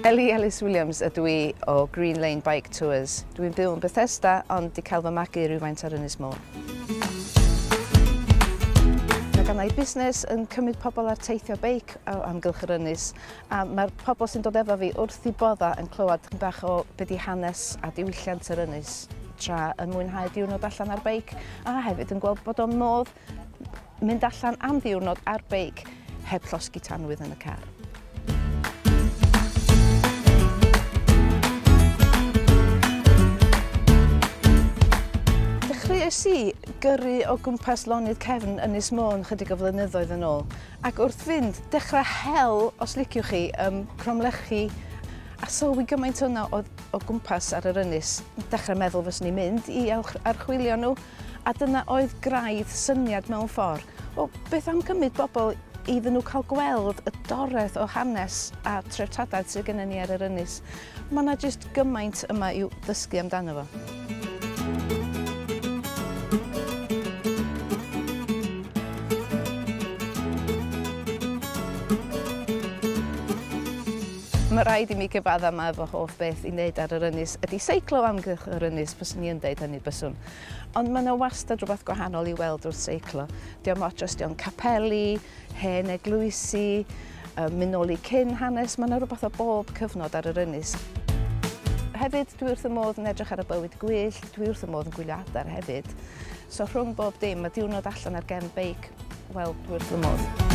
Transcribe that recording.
Ellie Ellis Williams ydw i o Green Lane Bike Tours. Dwi'n byw yn Bethesda ond di cael fy magu rhywfaint ar Ynys Môn. Mae gan i busnes yn cymryd pobl ar teithio beic o amgylch yr ynys A mae'r pobl sy'n dod efo fi wrth i bodda yn clywed chyn bach o be di hanes a diwylliant yr ynys tra yn mwynhau diwrnod allan ar beic a hefyd yn gweld bod o'n modd mynd allan am ddiwrnod ar beic heb llosgi tanwydd yn y car. Dechreuais i gyrru o gwmpas lonydd cefn Ynys Môn chydig o flynyddoedd yn ôl Ac wrth fynd, dechrau hel, os liciwch chi, ym Mhromlechi a sylwi gymaint yno o o gwmpas ar yr ynys. Dechrau meddwl fyswn i'n mynd i archwilio nhw a dyna oedd graidd syniad mewn ffordd. O, beth am gymryd bobl iddyn nhw cael gweld y doreth o hanes a treftadaeth sydd gennym ni ar yr ynys. Mae yna jyst gymaint yma i'w ddysgu amdano fo. Mae rhaid i mi gyfadda mae fy hoff beth i wneud ar yr ynys ydy seiclo amgylch yr ynys, byswn i yn deud hynny byswn. Ond mae yna wastad rhywbeth gwahanol i weld wrth seiclo. Diolch ots os dio'n capeli, Hen eglwysi, yy myn' nôl i cyn hanes, ma' 'na rwbath o bob cyfnod ar yr ynys. Hefyd dwi wrth fy modd yn edrych ar y bywyd gwyllt, dwi wrth fy modd yn gwylio adar hefyd. So rhwng bob dim, ma' diwrnod allan ar gefn beic, wel dwi wrth fy modd.